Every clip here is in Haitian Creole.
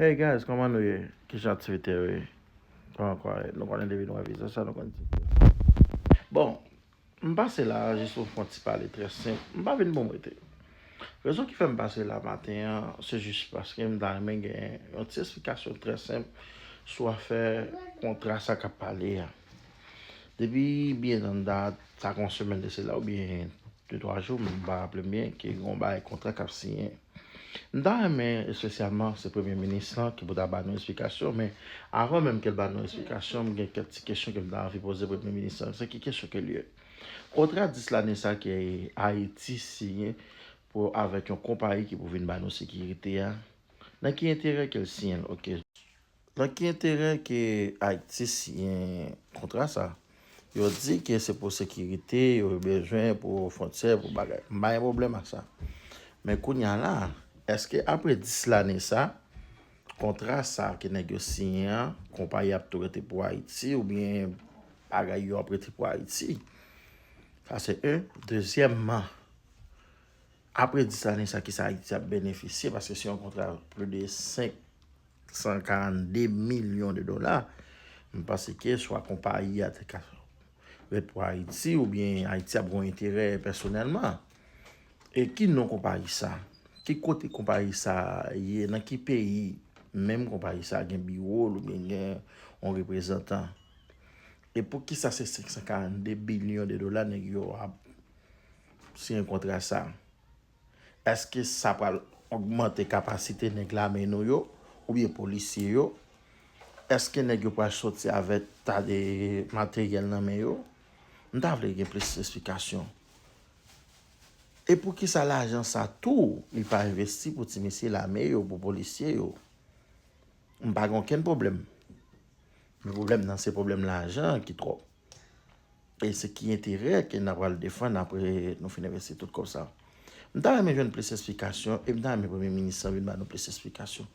Hey guys koman nou ye kijan aktivite yo ye koman kò a ye nou konnen depi nou wè vizaj sa nou konn ti vizaj bon m pase la jis pou m fon ti pale trè senp m pa vin pou m rete rezon ki fè m pase la maten an se jis paske m ta renmen gen yon ti esplikasyon trè senp sou afè kontra sa kap pale a. Depi byen dan dat, sa gen yon semèn de sela oubyen de twa jou, m pa raple m byen, ke gen yon bagay kontra k ap siyen. M ta renmen espesyalman se Premye minis lan ki pou ta ba nou esplikasyon, men avan menm ke l ba nou esplikasyon, m gen kèk ti kesyon ke m ta anvi poze Premye minis lan. Se ki kesyon ke l ye? Kontra 10 lane sa ke Ayiti siyen pou avèk yon konpayi ki pou vin ba nou sekirite a, nan ki enterè ke l siyen l? Ok. Nan ki enterè ke Aytis yen kontra sa? Yo di ke se pou sekirite, yo bezwen pou fwontyè, pou bagay. M pa gen pwoblèm ak sa. Men kounya la, eske apre 10 lane sa, kontra sa ke nèg yo siyen an, konpayi ap tou rete pou Ayiti oubyen bagay yo ap rete pou Ayiti? Sa se 1. Dezyèmman, apre 10 lane sa ki sa Ayiti ap benefisye paske se yon kontra plis de 5 142 milyon de dola, m panse ke swa konpayi a te ka ret pou Ayiti oubyen Ayiti ap gon enterè pèsonèlman. E ki non konpayi sa? Ki kote konpayi sa ye? Nan ki peyi menm konpayi sa gen biwo l oubyen gen yon reprezantan? E pou ki sa se 542 bilyon de dola nèg yo ap siyen kontra sa? Eske sa pral ogmante kapasite nèg lame nou yo oubyen polisye yo? Eske nèg yo pral soti avèk ta de materyèl nan men yo? M ta vle gen plis esplikasyon. E poukisa lajan sa tou li pa envesti pou ti mesye lame yo, pou polisye yo? M pa gen okenn pwoblèm. Men pwoblèm nan se pwoblèm lajan an ki twòp. E se ki enterè ke na pral defann apre nou fin envesti tout kòb sa? M ta renmen jwenn plis esplikasyon e m ta renmen premye minis lan vin ba nou plis esplikasyon.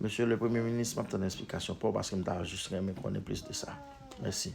Mesye le premye minis, m ap tann esplikasyon pa w paske m ta jis renmen konnen plis de sa. Mèsi.